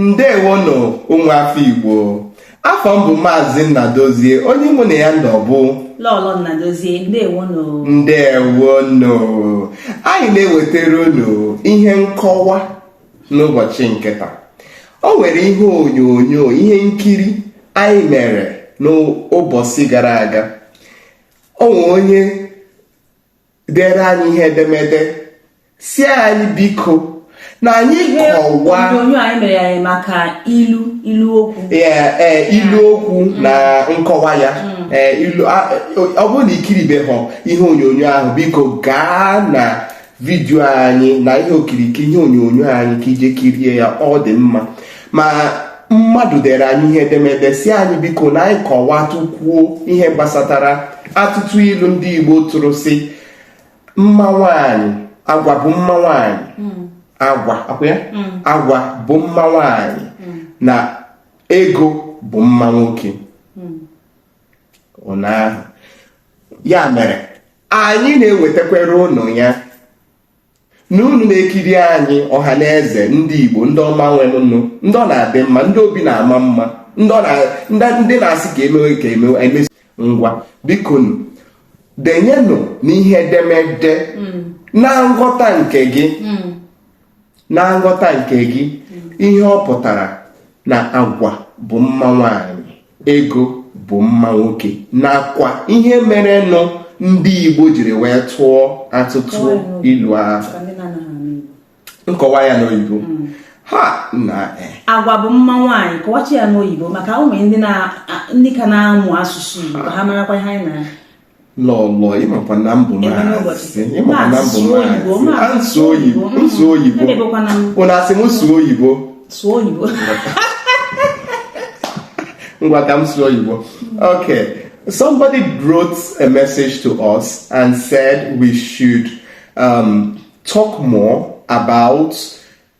ndewonụ ụmụ afọ igbo afa m bụ maazị nnadozie onye mụ na ya nọ bụ lọlọ nnadozie ndewonụ ndewonụ anyị na-ewetara unu ihe nkọwa n'ụbọchị nke taa o nwere ihe onyonyo ihe nkiri anyị mere n'ụbọchị gara aga o nwere onye dere anyị ihe edemede sị anyị biko na anyị kọwa onyonyo anyị mere ya maka ilu ilu okwu e, ilu okwu na nkọwa ya mm. e, ọ bụrụ na i kiribeghị ihe onyonyo ahụ biko gaa na vidiyo anyị na ihe okirikiri ihe onyonyo anyị ka i jee kirie ya ọ dị mma ma mmadụ dere anyị ihe edemede sị anyị biko na anyị kọwatụkwuo ihe gbasatara atụtụ ilu ndị Igbo tụrụ sị mma nwanyị agwa bụ mma nwanyị hmm. agwa hmm. agwa bụ mma nwanyị hmm. na ego bụ mma nwoke ụnyaahụ ya mere anyị na-ewetakwara unu ya na unu na-ekiri anyị ọha na eze ndị Igbo ndị ọma nwe mụ nụ ndị ọ na-adị mma ndị obi na-ama mma ndị na-asị ka e mewe ka e mewe e mesịa ngwa bikonu denyenụ n'ihe edemede hmm. na nghọta nke gị hmm. na nghọta nke gị ihe ọ pụtara na agwa bụ mma nwanyị ego bụ mma nwoke nakwa ihe mere nụ ndị Igbo jiri wee tụọ atụtụ ilu ahụ nkọwa ya n'oyibo mm. ha na e. agwa bụ mma nwaanyị kọwachi ya n'oyibo maka ụmụ ndị ka na-amụ asụsụ Igbo ha marakwa ihe anyị na lọlọ ị makwa na m bụ maazị ị makwa na m bụ maazị m sụọ oyibo m sụọ oyibo ị na-asị m sụọ oyibo sụọ oyibo ngwa ka m sụọ oyibo okay somebody wrote a message to us and said we should um, talk more about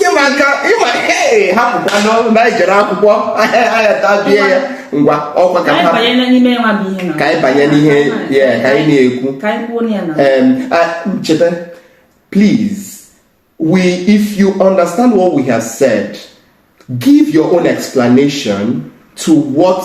ị ma nka ị ma hapụkwa na anyị jere akwụkwọ ahịa tabie ya ngwa ọkwa ka ka anyị banye n'ihe ya ka anyị na-ekwu cheta please we if you understand what we have said give your own explanation to what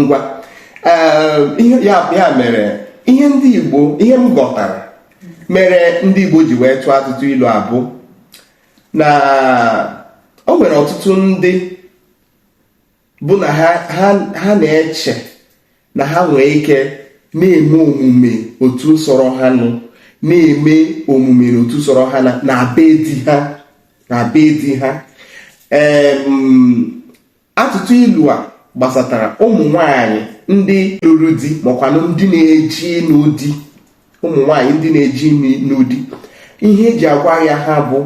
ngwa eh, ya mere ihe ndị Igbo ihe m ghọtara mere ndị Igbo ji wee tụọ atụtụ ilu a bụ na o nwere ọtụtụ ndị bụ na ha na-eche na ha nwee ike na-eme omume otu sọrọ ha nụ na-eme omume na otu sọrọ ha na be di ha na be di ha atụtụ ilu a gbasatara ụmụ nwanyị ndị lụrụ di makwanụ ndị na-eje ịnụ di ụmụ nwanyị ndị na-eje ịnụ di ihe e ji agwa ya ha bụ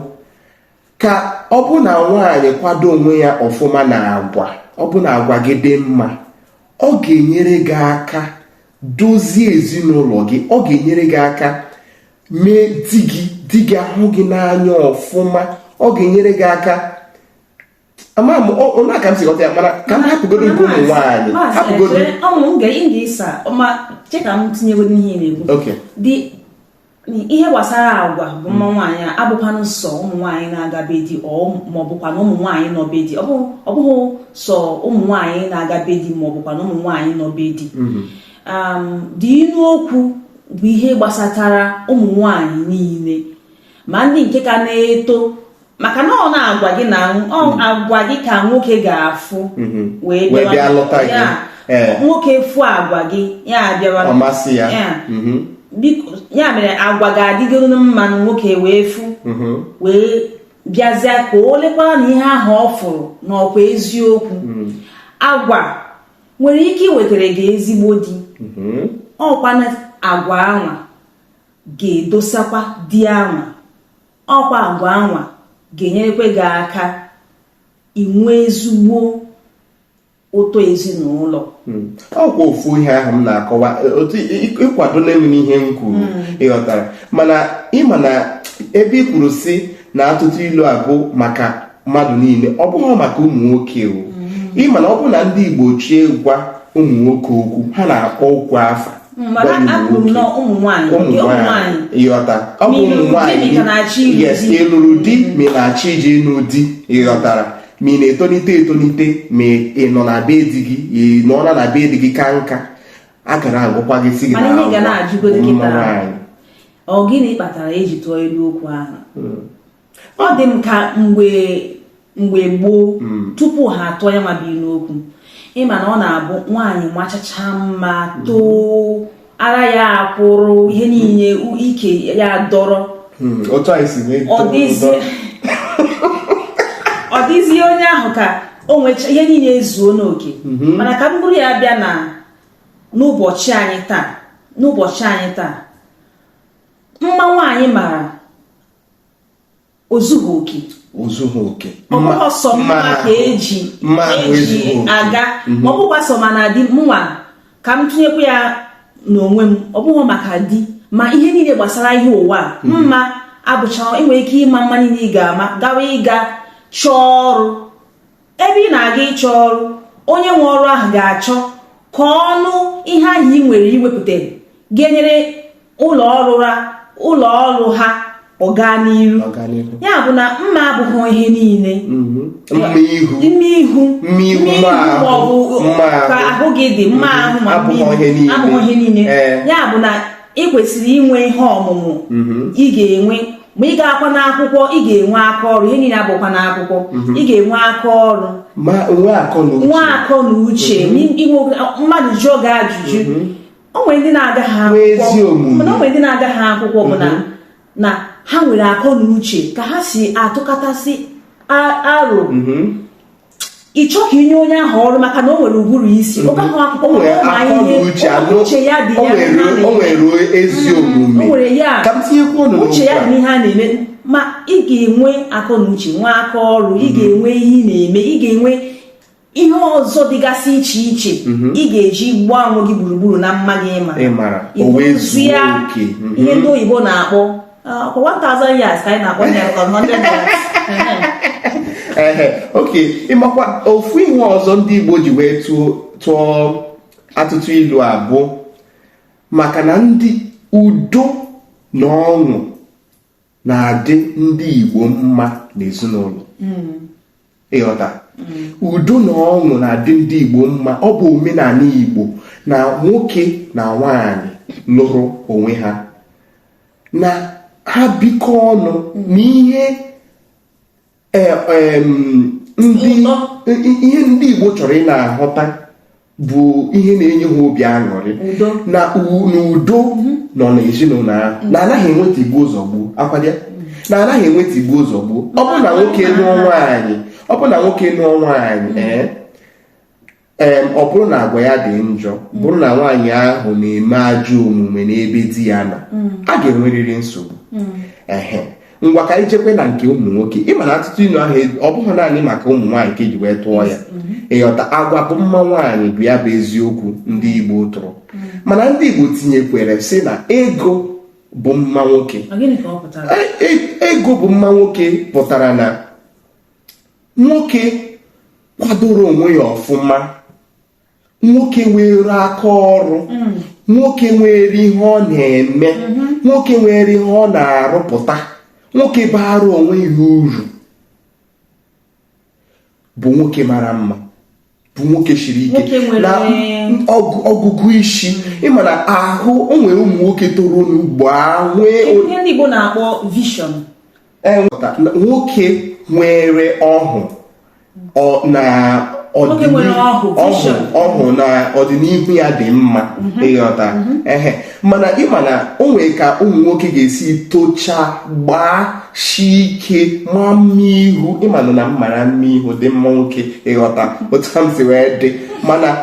ka ọ bụ na nwaanyị kwado onwe ya ọfụma n'agwa ọ bụ na agwa gị dị mma ọ ga-enyere gị aka dozie ezinụlọ gị ọ ga-enyere gị aka mee di gị di gị ahụ gị n'anya ọfụma ọ ga-enyere gị aka ama m onye aka m si ghọta ya mana ka m hapụgodo nke ụmụ nwaanyị hapụgodo ọmụ m ga ịga ịsa ma che ka m tinyegodo ihe na-ekwu dị ihe gbasara agwa bụ mma nwaanyị abụkwanụ sọ ụmụ nwaanyị na-aga be di ma ọ bụkwa na ụmụ nwaanyị nọ be di ọ bụghị sọ ụmụ nwaanyị na-aga be di ma ọ bụkwa na ụmụ nwaanyị nọ be di mm-hmm. um, the inu okwu bụ ihe gbasatara ụmụ nwaanyị niile ma ndị nke ka na-eto maka na ọ na-agwa gị na mm. agwa gị ka nwoke ga-afụ mm-hmm. wee bịa lụta gị eh. nwoke fụ agwa gị ya abịawa ọ masị ya mm-hmm. biko ya mere agwa gị adịgoro mma na nwoke wee fụ mm-hmm. wee bịazịa ka o lekwara na ihe ahụ ọ fụrụ na ọkwa eziokwu mm. agwa nwere ike iwetara gị ezigbo di ọkwa na agwa anwa ga-edosakwa di anwa ọkwa agwa anwa ga-enyerekwe gị aka inwe ezigbo ụtọ ezinụlọ hmm. ọkwa ofu ihe ahụ m na-akọwa e, otu ịkwado na-eme n'ihe m kwuru hmm. ị ghọtara mana ị ma na ebe ị kwuru si na atụtụ ilu a bụ maka mmadụ niile ọ bụghị maka ụmụ nwoke o hmm. ị ma na ọ bụrụ na ndị Igbo chọọ ịgwa ụmụ nwoke okwu ha na-akpọ okwu afa ị ghọta ọ bụ ụmụ nwaanyị yes ị lụrụ di ma ị na-achọ ije ịnụ di ị ghọtara ma ị na-etonite etonite ma ị nọ na be di gị ị nọ na be di gị kaa nka a ka na-agụkwa gị si gị na ụmụ nwaanyị ọ gịnị kpatara e ji tụọ ilu okwu ahụ hmm. ọ dị m ka mgbe mgbe gboo hmm. tupu ha atụọ ya nwa bụ ilu okwu ị ma na ọ na-abụ nwaanyị machacha mma hmm. too ara ya akwụrụ ihe niile ike ya dọrọ hmm. ọ dịzie onye ahụ ka o nwecha ihe niile ezuo n'oke mana ka m buru ya bịa na n'ụbọchị anyị taa n'ụbọchị anyị taa mma nwaanyị mara o zughị oke o zughị oke ọ bụghị sọ mma ka e ji aga mhm. ma ọ bụkwa sọ mana di mụnwa ka m tụnyekwa ya n'onwe m ọ bụghị maka di ma ihe niile gbasara ihe ụwa mhm. mma abụcha i nwere ike ịma mma niile ị ga-ama gawa ịga chọọ ọrụ ebe ị na-aga ịchọ ọrụ onye nwe ọrụ ahụ ga-achọ ka ọ nụ ihe ahụ i nwere iwepụta ga-enyere ụlọ ọrụ ha ụlọ ọrụ ha ọganiru ya bụ na mma abụghị ihe niile mhm. mma ihu maọbụ ka ahụ gị dị mma mhm. ahụ mma abụghị ihe niile ya bụ na ị kwesịrị inwe ihe ọmụmụ mm-hmm. ị ga-enwe ma ị gaakwa n'akwụkwọ ị ga-enwe aka ọrụ ihe niile abụkwa n'akwụkwọ mm-hmm. ị ga-enwe aka ọrụ nwee akọ na uche mm-hmm. mmadụ jụọ gị ajụjụ o nwere ndị na-agaghị akwụkwọ mana o nwere ndị na-agaghị akwụkwọ bụ na ha nwere akọ na uche ka ha si atụkọtasị aro ị chọọ ka i nye onye ahụ ọrụ maka na o nwere ụbụrụ isi ọ gaghị akwụkwọ O nwere ma akọ na ihe uche anụ uche ya dị o ya nwere n'ihe o a na-eme. nwere ezi o omume nwere ya ka m tinyekwuo ọnụ uche ya dị n'okwu a. n'ihe a na-eme ma ị ga-enwe akọ na uche nwee aka ọrụ ị ga-enwe ihe ị na-eme ị ga-enwe ihe ọzọ dịgasị iche iche ị ga-eji gbaa onwe gị gburugburu na mma gị ịma Ị mara, o wee zuo oke. Mhm. ihe ndị oyibo na-akpọ ọkwa 1000 yards ka anyị na-akpọ ya ọkwa 100 yards ehe okay ị makwa ofu ihe ọzọ ndị Igbo ji wee tụọ atụtụ ilu a bụ maka na ndị udo na ọṅụ na-adị ndị Igbo mma n'ezinụlọ hmm. ị ghọta udo na ọṅụ na-adị ndị Igbo mma ọ bụ omenala Igbo na nwoke na nwaanyị lụrụ onwe ha na ha bikọ ọnụ n'ihe e, ihe ndị Igbo chọrọ ị na-ahụta bụ ihe na-enye ha obi aṅụrị na udo mhm. nọ n'ezinụlọ ahụ mhm. na anaghị enwe tigbuo zọgbuo kwa daa mhm. na anaghị enwe tigbuo zọgbuo ọ bụ na nwoke nụọ nwaanyị ọ bụrụ na nwoke nụọ nwaanyị ee ee ọ bụrụ na agwa ya dị njọ bụrụ na nwaanyị ahụ na-eme ajọ omume n'ebe di ya nọ a ga-enwerịrị nsogbu ehe ngwa ka anyị jekwe na nke ụmụ nwoke ịma na atụtụ inu ahụ ọ bụghị naanị maka ụmụ nwaanyị ka eji wee tụọ ya ịghọta agwa bụ mma nwaanyị bụ ya bụ eziokwu ndị Igbo tụrụ mana ndị Igbo tinyekwere sị na ego bụ mma nwoke e, e, ego bụ mma nwoke pụtara na nwoke kwadoro onwe ya ọfụma nwoke nwere aka ọrụ mm. nwoke nwere ihe ọ na-eme mm-hmm. nwoke nwere ihe ọ na-arụpụta nwoke bara onwe ya uru bụ nwoke mara mma bụ nwoke siri ike na ọgụgụ isi mm. ịma na ahụ o nwere ụmụ nwoke toro n'ugbo ahụ e- ihe ndị Igbo na-akpọ vision nwoke nwere ọhụ na ọhụ na ọdịnihu ya dị mma mhm. ịghọta mhm. ehe mana ịma na o nwere ka ụmụ nwoke ga-esi tocha gbashi ike maa mma ihu ịma na na mmara mma ihu dị mma nwoke ịghọta otu m si wee dị mana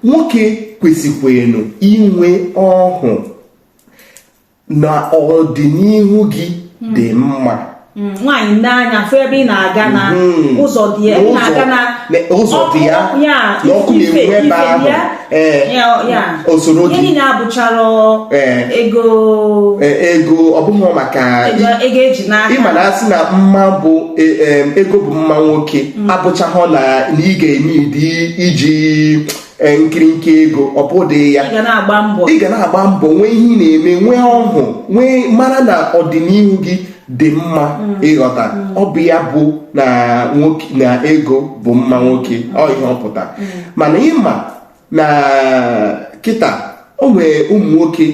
nwoke kwesịkwenu inwe ọhụ na ọdịnihu gị hmm. dị mma hmm, nwaanyị nee anya fụ ebe ị na-aga na hmm. ụzọ dị ya na-aga na ụzọ dị ya na ọkụ na-enwu ebe ahụ ee o soro gị ihe na-abụchaghị ego e, ego ọ bụghị maka ego eji n'aka ịma na a sị na mma bụ e, e, ego bụ mma nwoke abụchaghị na ị ga-eme iji e, nkirinkị ego ọ bụdịghị ya ị ga na-agba mbọ nwee ihe ị na-eme nwee ọhụụ wee mara na ọdịnihu gị dị mma mm. ịghọta mm. ọ bụ ya bụ na nwoke na ego bụ mma nwoke mm. ọ ihe ọ pụta mana ịma na kịta o nwere ụmụ nwoke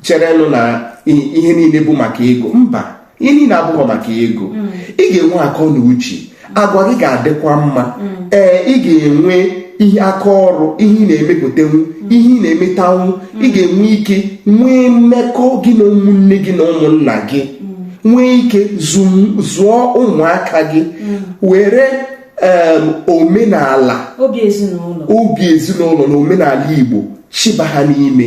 cherenụ na ihe niile bụ maka ego mba ihe niile abụghị maka ego mm. ị ga-enwe akọ na uche agwa gị ga-adịkwa mma mm. ee ị ga-enwe ihe aka ọrụ ihe ị na-emepụtanwu mm. ihe ị na-emetanwu ị ga-enwe ike nwee mmekọ gị na ụmụnne gị na ụmụnna gị nwee ike zụọ ụmụaka gị were omenala obi ezinụlọ na omenala Igbo chịba ha n'ime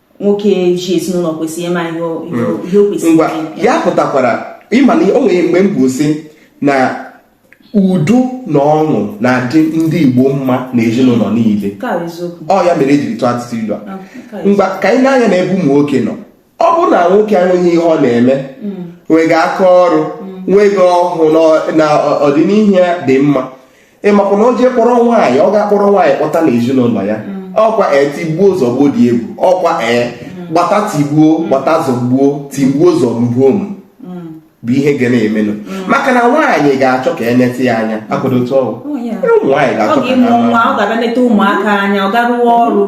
nwoke ji ezinụlọ kwesịrị ịma ihe o hmm. kwesịrị ime ya pụtakwara ịma na o nwere mgbe mbụ sị na udo na ọṅụ na-adị ndị Igbo mma na ezinụlọ niile ọ ya mere ejiri tụọ atụtụ ilu a ah, ngwa ka anyị nee anya na ebe ụmụ nwoke nọ ọ bụrụ na nwoke enweghị ihe ọ na-eme hmm. nweghị aka ọrụ hmm. nweghị ọhụụ na ọdịnihu ya dị mma ị makwa na o jee kpọrọ nwaanyị ọ ga-akpọrọ nwaanyị kpọta na ezinụlọ ya mm. ọkwa e tigbuo zọgbuo dị egwu ọkwa e mm. gbata tigbuo mm. gbata zọgbuo tigbuo zọgbuo m bụ ihe ga na-emenụ maka na nwaanyị ga-achọ ka e neta ya anya akwado otu ọ wụ nwaanyị ga-achọ ka ọ ga-abịa neta ụmụaka anya ọ ga-arụwa ọrụ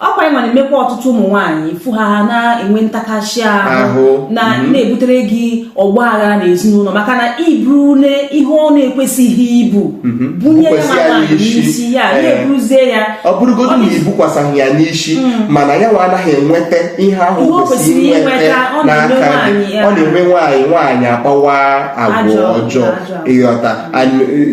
ọkwa ị ma na-emekwa ọtụtụ ụmụ nwaanyị ịfụ ha ha na-enwe ntakasị ahụ na mhm. na-ebutere gị ọgba aghara na ezinụlọ maka na i burule ihe ọ na-ekwesịghị ibu mhm. bunye ya ma nwaanyị n'isi ya eh. na-eburuzie ya ọ bụrụgodu na ibukwasaghị ya n'isi mm. mana ya nwa anaghị enweta ihe ahụ kwesịrị inweta n'aka ọ na-eme nwaanyị nwaanyị akpawa agwa ọjọọ ịghọta eh,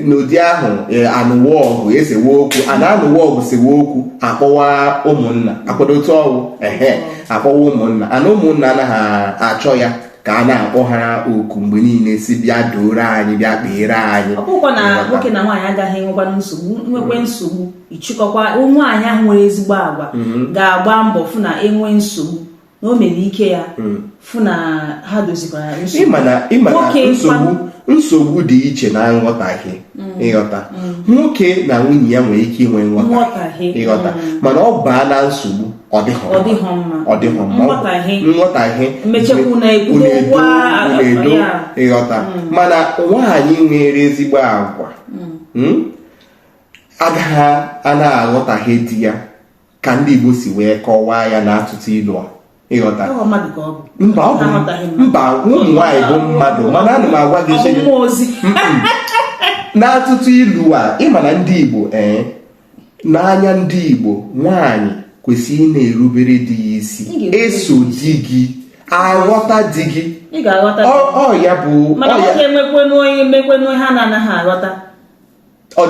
n'ụdị ahụ eh, a nụwa ọgụ e sewe okwu a na-anụwa ọgụ sewe okwu akpọwa ụmụnna akwado otu ọ wụ ehe akpọwa ụmụnna and ụmụnna anaghị achọ ya ka a na-akpọ ha oku mgbe niile sị bịa dooro anyị bịa kpeere anyị ọ bụkwa na nwoke na nwaanyị agaghị enwekwa nsogbu nwekwe nsogbu ịchịkọkwa nwaanyị ahụ nwere ezigbo agwa mm-hmm. ga-agba mbọ fụ na e nwee nsogbu na o mere ike ya hmm. fụ na ha dozikwara nsogbu dị iche na nghọtahie hmm. ịghọta hmm. nwoke na nwunye ya nwere ike inwe nghọtahie ịghọta mana ọ baa na nsogbu ọ dịghọ mma nghọtahie na-edo ịghọta mana nwaanyị nwere ezigbo agwa agaghị a na-aghọtahie di ya ka ndị Igbo si wee kọwaa ya na atụtụ ilu a ịghọta mba ụmụ nwaanyị bụ mmadụ mana ana m agwa gị n'atụtụ ilu a ị ma na ndị Igbo ee eh, n'anya ndị Igbo nwaanyị kwesịrị ịna-erubere di ya isi eso di gị aghọta di gị ọ ya bụ mana ọ ga-emekwenụ onye mekwenụ ha na-anaghị aghọta ọ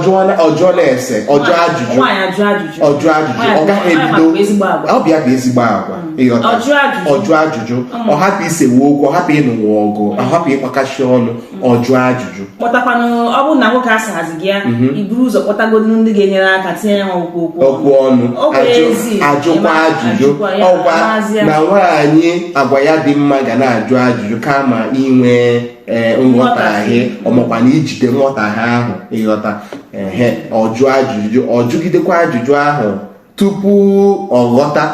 jụọ na-ese ọ jụọ ajụjụ ọ jụọ ajụjụ ọ gaghị ebido ọ bụ ya bụ ezigbo agwa mm. ịghọta ọ jụọ ajụjụ mm. ọ hapụ isewe okwu ọ hapụ ịnụwa ọgụ ọ mm. hapụ ịkpakashi ọnụ ọ jụọ ajụjụ kpọtakwanụ ọ bụrụ na nwoke asaghazị gị ya mhm. iburu ụzọ kpọtagodu ndị ga-enyere aka tinye ya okwu okwu ọnụ ajụkwa ajụjụ ọkwa na nwaanyị agwa ya dị mma ga na-ajụ ajụjụ kama inwe ee eh, nghọtahie ọ makwa na ijide nghọtahie ahụ ịghọta ehe ọ jụọ ajụjụ ọ jụgidekwa ajụjụ ahụ tupu ọ ghọta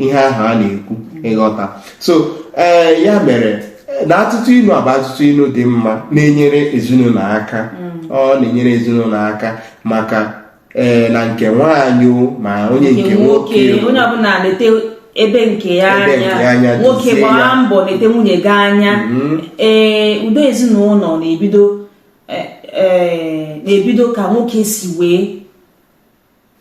ihe ahụ a na-ekwu ịghọta so ee eh, ya mere eh, na atụtụ ilu a bụ atụtụ ilu dị mma na-enyere ezinụlọ aka mm. ọ na-enyere ezinụlọ aka maka ee na nke nwaanyị ma onye nke nwoke onye ọbụla na-elete ebe nke ya anya nwoke gbaa mbọ na-elete nwunye gị anya mm-hmm. ee udo ezinụlọ na-ebido e, e, na-ebido ka nwoke si wee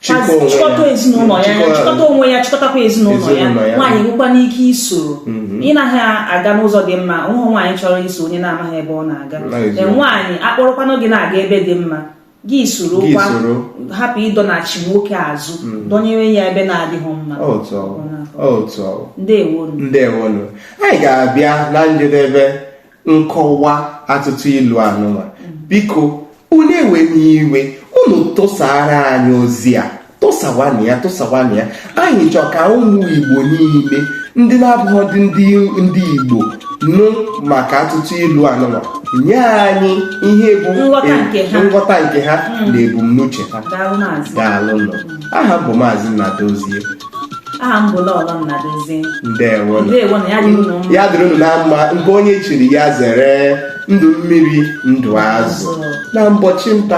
chịkọta ezinụlọ ya anya chịkọta onwe ya chịkọtakwa ezinụlọ ya nwaanyị nwekwanụ ike isoro mhm. ị naghị aga n'ụzọ dị mma ụhụ nwaanyị chọrọ iso onye na-amaghị ebe ọ na-aga nwaanyị a kpọrọkwanụ gị na-aga ebe dị mma gị soro Gị kwa soro. hapụ ịdọnachi nwoke azụ dọnyere ya ebe na-adịghị mma otu ọ wụ otu ọ wụ ndewonu ndewonu anyị ga-abịa na njedebe nkọwa atụtụ ilu anụnwa biko unu ewena iwe unu tụsaara anyị ozi a tụsawanụ ya tụsawanụ ya anyị chọọ ka ụmụ igbo niile ndị na-abụghị ndị ndị igbo nụ maka atụtụ ilu anụnwa nye anyị ihe bụ nghọta nke ha hmm. na ebumnuche ha daalụ nụ aha m bụ maazị Nnadozie aha m bụ Lọlọ Nnadozie ndewo ya dịrị unu na mma nke onye chiri ya zere ndụ mmiri ndụ azụ na mbọchị nta